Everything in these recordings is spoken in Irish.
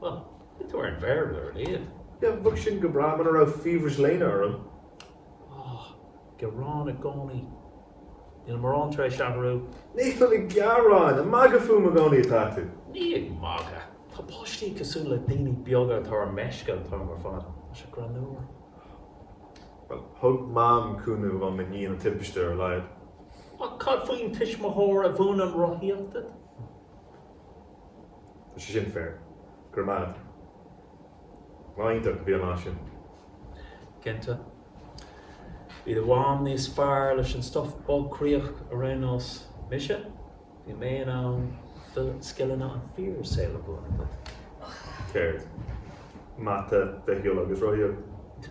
Well, they weren't fair, they were late. Yeah, bheadh sin go breá muna raibh fiabhras léana orm. Oh, gearán i gcónaí. Níl mórán tar éis athrú. Níl ag gearán, ag magadh fúm i gcónaí atá tú. Níl mé ag magadh. Tá páistí cosúil le daoine beaga atá ar meisce an t-am ar fad. Tá sé greannmhar. Bhuel, thug Mam cúnamh dhom i ndiaidh na timpiste ar a laghad. Ach cad faoin tuismitheoir a mhúineann rothaíocht duit? Tá sé sin fair. Go raibh maith a't. Lá iontach a bhí an lá sin. Cinnte. Bhí do mham níos fearr leis an stuff bailchríoch a raibh nós mise, bhí mé in ann scileanna an fíor saol a mhúineadh duit. Céard? Mata, Bitheolaíocht agus Rothaíocht?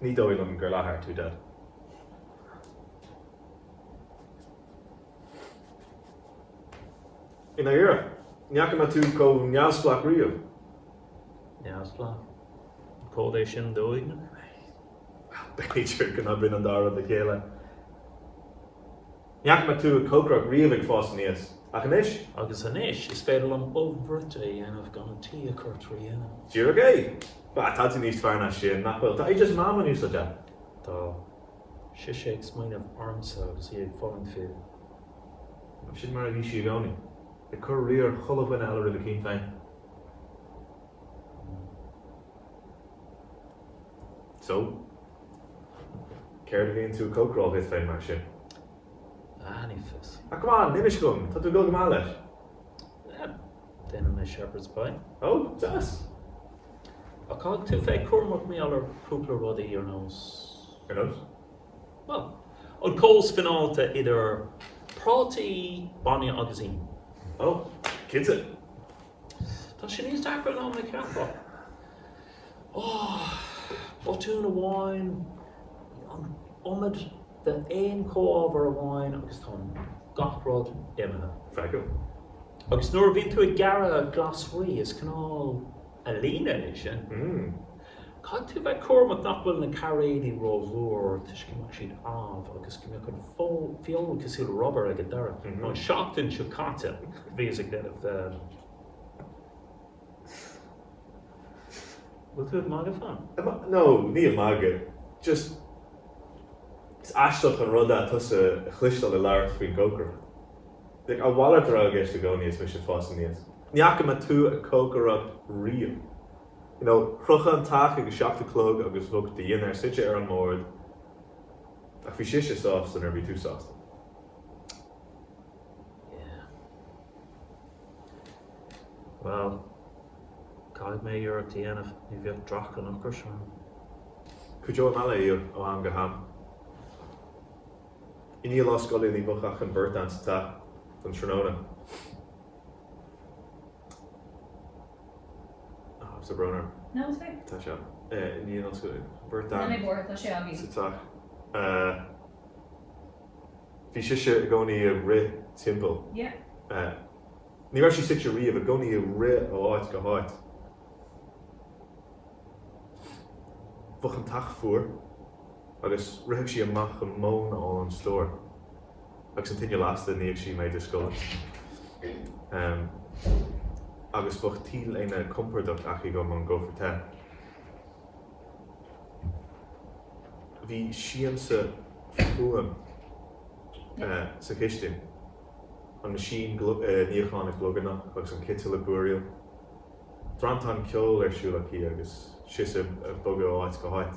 Ní dóigh liom gur leatsa a tharla. I ndáiríre, ní fhaca mé tú chomh neamhspleách riamh. Neamhspleách? Cad é sin dóigh liom? B'fhéidir go n-oibríonn an dá rud le chéile. Ní fhaca mé tú ag cócaireacht riamh ag fás aníos, ach anois? Agus anois is féidir liom ubh bhruite a dhéanamh gan an teach a chur trí thine. Díreach é! Bah, tá tú níos fearr ná sin, nach bhfuil? Tá oideas Mam in úsáid agat! Tá. Sise ag smaoineamh ormsa agus í ag fulaingt fíor. Nó sin mar a bhí sí i gcónaí. Ag cur riar chuile dhuine eile roimh a ceann féin. So, céard a bhíonn tú ag cócaráil dhuit féin mar sin? Ah, ní fios. Ah, come on, inis dhom, tá tú ag dul go maith leis. Ah, déanann mé shepherd's pie. Oh, deas! Ach caithfidh tú a bheith cúramach mar gheall ar chúpla rudaí ar nós. Ar nós? Bhuel, an cóimheas fineálta idir prátaí, bainne agus im. Oh, cinnte. Tá sé níos deacra ná mar a cheapfá. Botún amháin, an iomad d'aon chomhábhar amháin agus tá gach rud imithe. Freagra, Agus nuair a bhíonn tú ag gearradh glasraí is cineál ealaíne é sin. Caithfidh tú bheith cúramach nach bhfuil na cairéid ró-mhór toisc go mbeadh siad amh agus go mbeadh an feoil cosúil le rubar ag an deireadh. An seachtain seo caite bhíos ag déanamh, bhfuil tú ag magadh fúm? No, níl mé ag magadh, just is aisteach an rud é tusa a chloisteáil ag labhairt faoin gcócaireacht. Like, a mhalairt a bhí i gceist i gcónaí is mise ag fás aníos. Ní fhaca mé tú ag cócaireacht riamh. know, shroichfeá an teach ag a seacht a chlog agus bheadh do dhinnéar suite ar an mbord ach bhí sise sásta nuair a bhí tú sásta. Yeah. Well, caithfidh mé iarracht a dhéanamh, ní bheadh dreach an ocrais orm. Cuideoidh mé léi ó am go ham. I ndiaidh lá scoile ní bheadh ach an bheirt a'ainn sa teach don tráthnóna. Sa Branar. Tá sé ann. Ní in Ollscoil Uladh. Beirt Anna. Ina bhformhór tá sé againn. Sa teach. Bhí sise i gcónaí ag rith timpeall. Ní raibh sí suite riamh, i gcónaí ag rith ó áit go háit. Bheadh an teach fuar agus ritheadh sí amach móin a fháil ón stór. Agus an tine lasta, níodh sí m'éide scoile. Agus bheadh t-léine compordach aici dhom ón gcófra te. Bhí siansa fuaime sa chistin, an machine níocháin ag glugarnach agus an citeal ag búiríl. Drantán ceoil ar siúl aici agus sise ag bogadh ó áit go háit.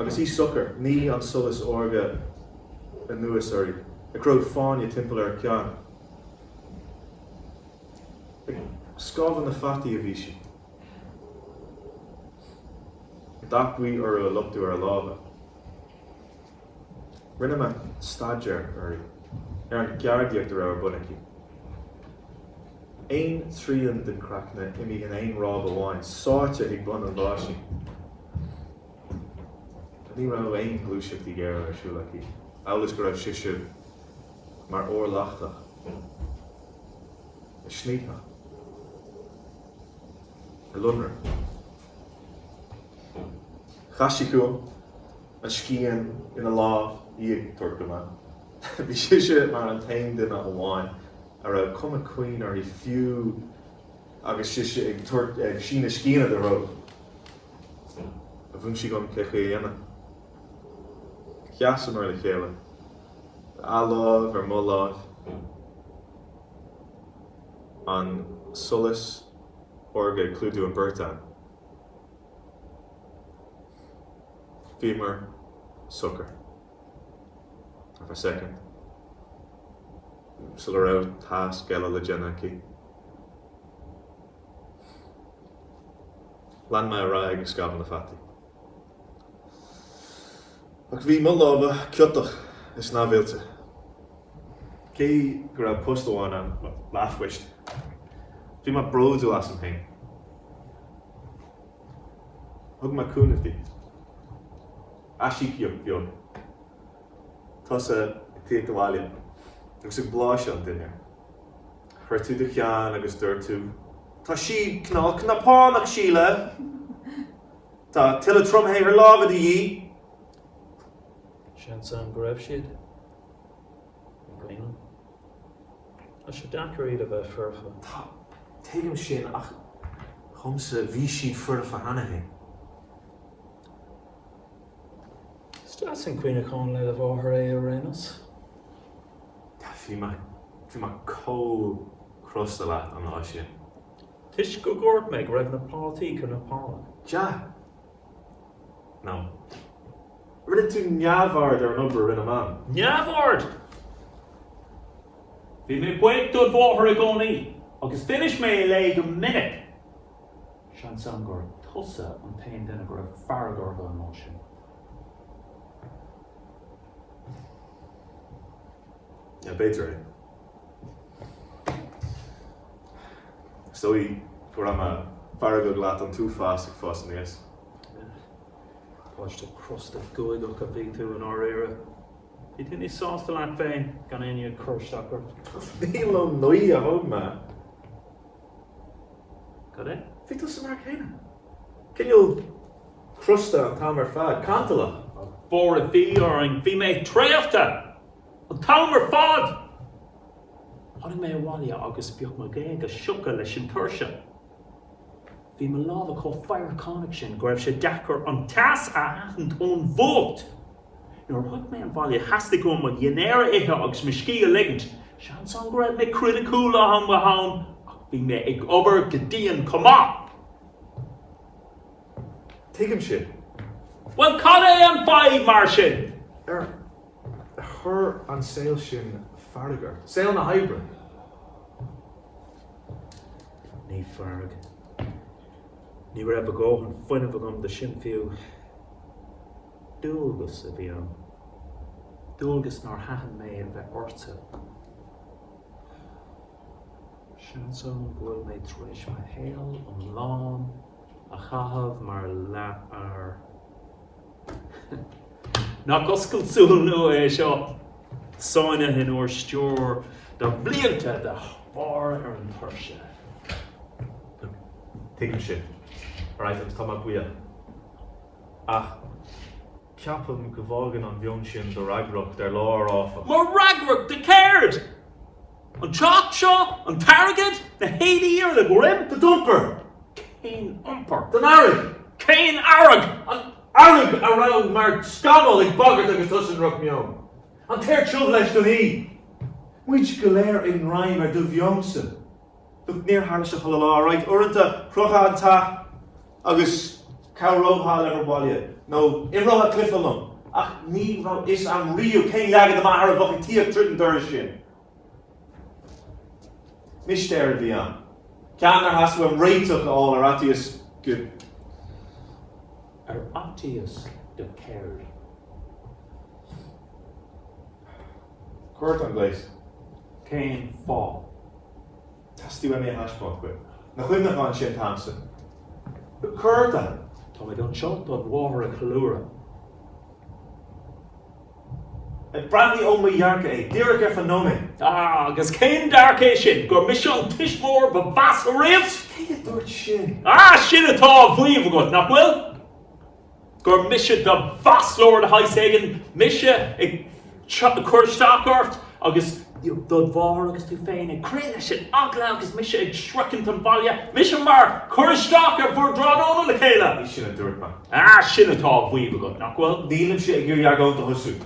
Agus í socair, shnigh an solas órga anuas uirthi, ag cruthú fáinne timpeall ar a ceann. Ag scamhadh na fataí a bhí sí, dath buí orthu ag luchtú ar a lámha. Rinne mé staidéar uirthi, ar an gceardaíocht a raibh ar bun aici. Aon trian den chraiceann ag imeacht in aon ráib amháin, sáite ag bun an bháisín. Ní raibh aon ghluaiseachtaí géara ar siúl aici, amhail is go raibh sise mar ór leachtach ag sní, ag lonradh. Chas sí chugam. an scian ina lámh í ag tabhairt dhom é. Bhí sise mar an t-aon duine amháin a raibh cuma caoin uirthi fiú agus sise ag tabhairt, ag síneadh sciana i do threo. Mhúin sí dhom cé chaoi a dhéanamh. Sheasamar le chéile, a lámh ar mo láimh, an solas órga ag clúdú an bheirt a'ainn. Bhíomar socair, for a second, sula raibh tasc eile le déanamh aici. Lean mé ar aghaidh ag scamhadh na fataí. Ach bhí mo lámha ciotach is neamhoilte. Cé go raibh post amháin ann, leathphoist, bhí mé bródúil asam féin. Thug mé cúnamh di. Aisíocaíocht bheag. Tusa ag tíocht abhaile agus ag blaiseadh an dinnéir. Chroith tú do cheann agus dúirt tú, 'Tá siad cnapánach, Síle! Tá tuilleadh tromshaothar láimhe de dhíth. Seans ann go raibh siad i gcuimhne. Tá sé deacair iad a bheith foirfe. Tá, tuigim sin, ach dhomsa, bhí siad foirfe cheana féin. Is deas an cuimhneachán le do mháthair é ar aon nós. Bhí mé chomh crosta leat an lá sin. Toisc gur dhúirt mé go raibh na prátaí cnapánach? Yeah. No. Rinne tú neamhaird ar an obair a rinne Mam. Neamhaird! Bhí mé buíoch de do mháthair i gcónaí agus d'inis mé léi go minic, seans ann gur tusa an t-aon duine go raibh fearg orthu an lá sin. Yeah, b'fhéidir é. Is dóigh go raibh mé feargach leat an t-uafás ag fás aníos. Páiste crosta guagach a bhí tú i ndáiríre. Bhí tú níos sásta leat féin gan éinne ag cur isteach ort. Ní ón ngaoth a thóg mé. Cad é? Bhí tusa mar céanna. Cineál crosta an t-am ar fad. Cantalach. Go bhfóire Dia orainn. Bhí mé traochta! An t-am ar fad, tháinig mé abhaile agus bhíodh mo ghéaga sioctha leis an tuirse. Bhí mo lámha chomh fadharcánach sin go raibh sé deacair an teas a aithint ón bhfuacht. Nuair a shroich mé an bhaile, theastaigh uaim mo dhinnéar a ithe agus mo scíth a ligint. Seans ann go raibh mé criticiúil ó ham go ham ach bhí mé ag obair go dian chomh maith. Tuigim sin. Bhuel, cad é an fadhb mar sin? Ar Chuir an saol sin fearg ort, saol na hoibre! Ní fearg. Ní raibh a dhóthain fuinnimh agam do sin fiú. Dualgas a bhí ann. Dualgas nár thaitin mé a bheith ortsa. Seans ann go bhfuil mé tar éis mo shaol iomlán a chaitheamh mar leathfhear. Nach oscailt súl nua é seo? Sáinnithe in úr stiúir do bhlianta de bharr ar an tuirse. Tuigim sin. Alright, agus tá mé buíoch. Ach ceapaim go bhfágann an mheon sin do fhreagracht ar lár, áfach. Mo fhreagracht? Do céard? An teach seo, an t-airgead, na héadaí ar do dhroim. Do d'iompar, cén iompar? Don fhearg, cén fhearg? An fhearg a raibh mar scamall ag bagairt agus tusa i ndrochmheon. An t-aer tiubh leis don oíche. Muid go léir i ngreim ar do mheonsa. Look, níor tharla seo chuile lá, alright, uaireanta shroichfeá an teach agus chabhrófá le m'obair bhaile, nó d'imreofá cluiche liom, ach ní raibh fhios a'm riamh cén leagan de m'athair a bheadh ag tíocht tríd an doras sin. Mistéir a bhí ann, ceann nár theastaigh uaim réiteach a fháil ar fhaitíos go. Ar fhaitíos go céard? Cuairt an Ghléis. Cén fáth? Teastaíonn mé a thaispeáint dhuit na cuimhneacháin sin, Thompson. Cuir do. Táimid anseo chun do mháthair a cheiliúradh. Ach breathnaigh ó mo dhearcadh é, díreach ar feadh nóiméad. Ah, agus cén dearcadh é sin? Gur mise an tuismitheoir ba mheasa riamh? Cé a dúirt sin? Ah, sin atá á mhaíomh agat, nach bhfuil? gur mise do mhaslóir de shaghas éigin, mise ag cur isteach ort agus do mháthair agus tú féin ag crith leis an eagla agus mise ag sroichint an bhaile, mise mar chur isteach ar bhur dtráthnóna le chéile! Ní sin a dúirt mé. Ah, sin atá á mhaíomh agat, nach bhfuil? Nílimse ag iarraidh argóint a thosú.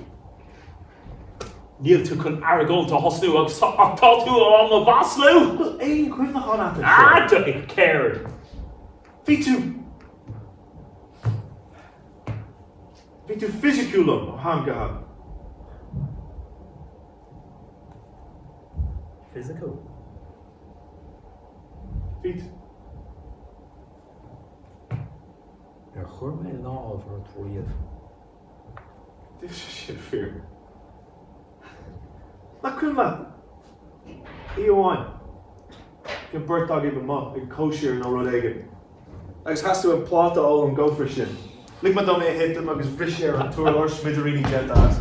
Níl tú chun argóint a thosnú agus ach tá tú á mo mhaslú! An bhfuil aon chuimhneachán agat air seo? Ah, céard? Bhí tú. Bhí tú fisiciúil liom ó am go ham. Fisiciúil. Bhí Ar chuir mé lámh ort riamh? D'fhiafraigh siad fíor. Nach cuma? Oíche amháin, bhí an beirt agaibh amuigh ag cóisir nó rud éigin agus theastaigh uaim pláta a fháil ón gcófra sin. Lig mé dom é a thitim agus bhris sé ar an t-urlár, smidiríní déanta as.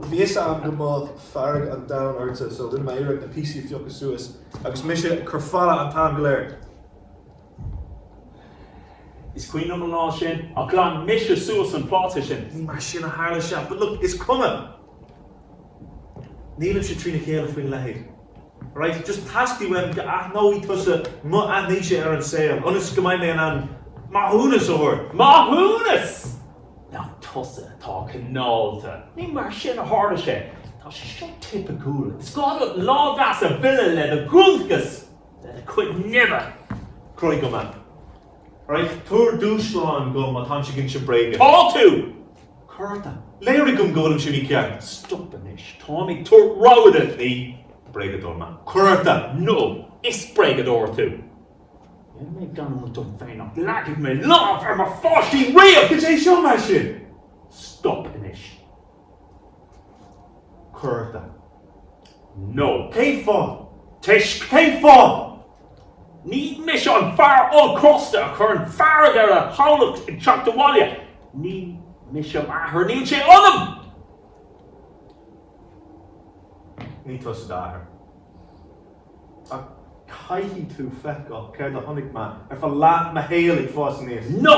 Bhí fhios agam go mbeadh fearg an domhain ortsa so rinne mé iarracht na píosaí a phiocadh suas agus mise ag cur fola an t-am go léir. Is cuimhin liom an lá sin, ach ghlan mise suas an pláta sin. Ní mar sin a tharla sé, but look, is cuma. Nílimse trína chéile faoina leithéid. Alright, just teastaíonn uaim go n-aithneoidh tusa mo thaithíse ar an saol, ionas go mbeidh mé in ann maithiúnas a thabhairt. Maithiúnas! Nach tusa atá cineálta. Ní mar sin a tharla sé. Tá sé seo tipiciúil. Is gá duit lá deas a mhilleadh le do bhualadh That could never! Croí go maith. Right, tabhair dúshlán dom má táim ag insint bréige. Tá tú! Cuarda. Léirigh dom go bhfuilimse mícheart. Stop anois. Táim ag tabhairt rabhadh duit. Bréagadóir maith. Cuarda. No, is bréagadóir tú. Bhí mé gránna dom féin ach níor leag mé lámh ar mo pháistí riamh! Is é seo mar sin. Stop anois. Cuarda. No. Cén fáth? Toisc. Cén fáth? Ní mise an fear ollchrosta a chuireann fearg ar a theaghlach ag teacht abhaile. Ní mise m'athair. Níl sé ionam! Ní tusa d'athair. Ach caithfidh tú feiceáil céard a chonaic mé ar feadh leath mo shaoil ag fás aníos. No!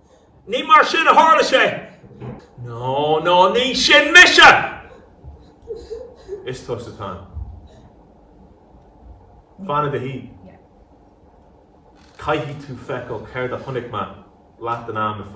Ní mar sin a tharla sé. No no ní sin mise! Is tusa é Tan. Fan i do shuí. Caithfidh tú feiceáil céard a chonaic mé leath den am ar fad.